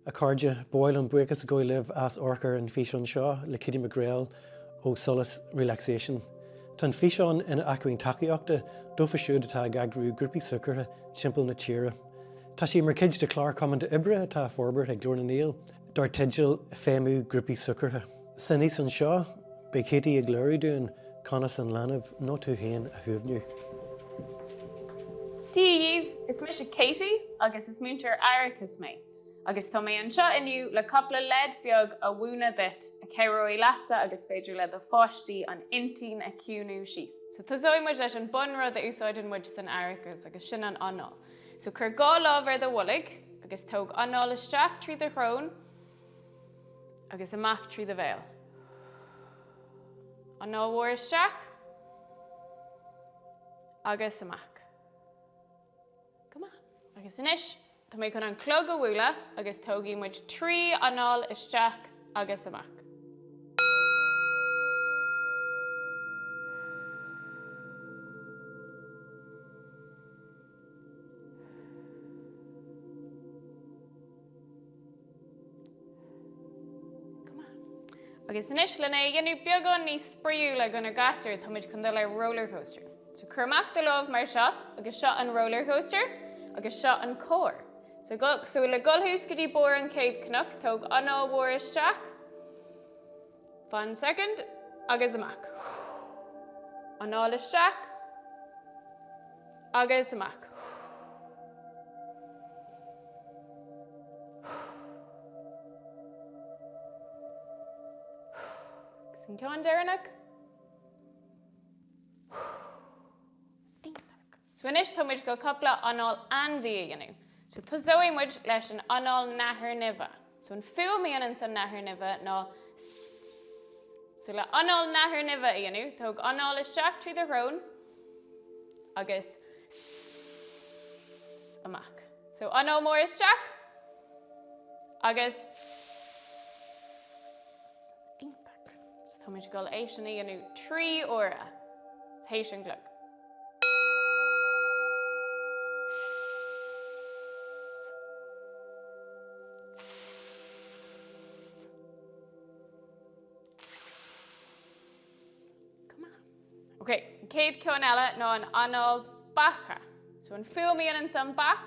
A chairde, ba mhaith liom buíochas a ghabhail libh as ucht an físeán seo le Kitty McGreal ó Solas Relaxation. Tá an físeán ina acmhainn tacaíochta dóibh siúd atá ag eagrú grúpaí súgartha timpeall na tíre. Tá sé mar chuid de chlár cuimsitheach oibre atá á fhorbairt ag Glór na nGael dar teideal Feidhmiú Grúpaí Súgartha. San fhíseán seo, beidh Katie ag léiriú dúinn conas an leanbh, nó tú féin, a shuaimhniú. Dia dhíbh! Is mise Katie agus is múinteoir aireachais mé agus tá mé anseo inniu le cúpla leid bheag a mhúineadh duit a chabhróidh leatsa agus b'fhéidir le do pháistí an intinn a chiúnú síos. So tosóidh muid leis an bunrud a úsáideann muid san aireachas agus sin an anáil. So cuir dhá lámh ar do bholg agus tóg anáil isteach trí do shrón, agus amach trí do bhéal. Anáil mhór isteach agus amach. Go maith. Agus anois, tá mé chun an clog a bhualadh agus tógaidh muid trí anáil isteach agus amach. Agus anois lena dhéanamh beagán níos spraíúla do na gasúir táimid chun dul ar roller coaster. So cuir amach do láimh mar seo agus seo an roller coaster agus seo an carr. So go, so le gabháil suas go dtí barr an chéad chnoc tóg anáil mhór isteach. Fan soicind. Agus amach. Anáil isteach. Agus amach. Agus an ceann deireanach. Ar fheabhas. So anois tá muid chun cúpla anáil ainmhí a dhéanamh. So tosóidh muid leis an anáil nathair nimhe. So an fhuaim a dhéananns an nathair nimhe ná sss. So le anáil nathair nimhe a dhéanamh, tóg anáil isteach trí do shrón agus sss amach. So anáil mhór isteach agus sss. Iontach. So táimid ag dul é sin a dhéanamh trí uaire tar éis an chloig. An chéad cheann eile ná an anáil beiche. So an fhuaim a dhéananns an bheach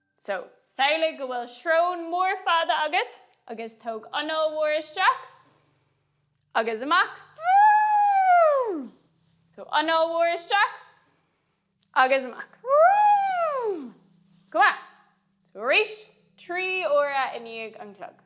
So, samhlaigh go bhfuil srón mhór fhada agat agus tóg anáil mhór isteach agus amach. So, anáil mhór isteach agus amach. Go maith. So, arís, trí uaire i ndiaidh an chlog.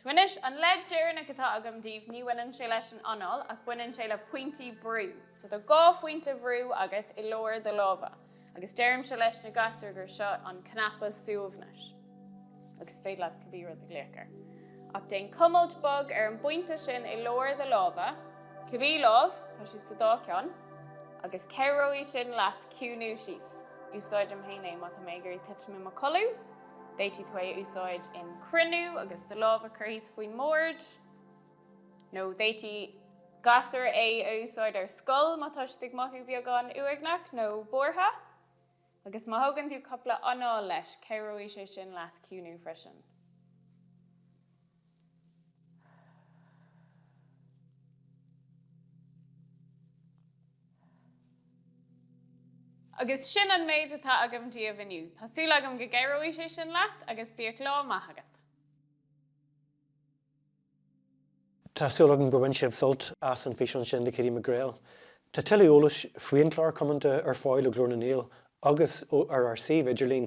So anois, an leid deireanach atá agam daoibh, ní bhaineann sé leis an anáil, ach baineann sé le pointí brú. So tá dhá phointe brú agat i lár do láimhe, agus deirimse leis na gasúir gur seo an cnaipe suaimhnis. agus is féidir leat cibé rud a ghlaoch air. Ach déan cuimilt bog ar an bpointe sin i lár do láimhe, cibé lámh, tá sé sa dá ceann, agus cabhróidh sin leat ciúnú síos. Úsáidim féin é má tá mé ag iarraidh titim i mo chodladh. D'fhéadfadh tú é a úsáid in cruinniú agus do lámh a chur thíos faoin mbord, nó d'fhéadfadh gasúir é a úsáid ar scoil má tá siad ag mothú beagán uaigneach nó buartha. Agus má thógann tú cúpla anáil leis cabhróidh sé sin leat ciúnú freisin. Agus sin an méid atá agam daoibh inniu. Tá súil agam go gcabhróidh sé sin leat agus bíodh lá maith agat. Tá súil agam gur bhain sibh sult as an bhfíseán sin le Katie McGreal. Tá tuilleadh eolais faoin chlár Cumanta ar fáil ó Glór na nGael agus ó ar ár suíomh idirlín.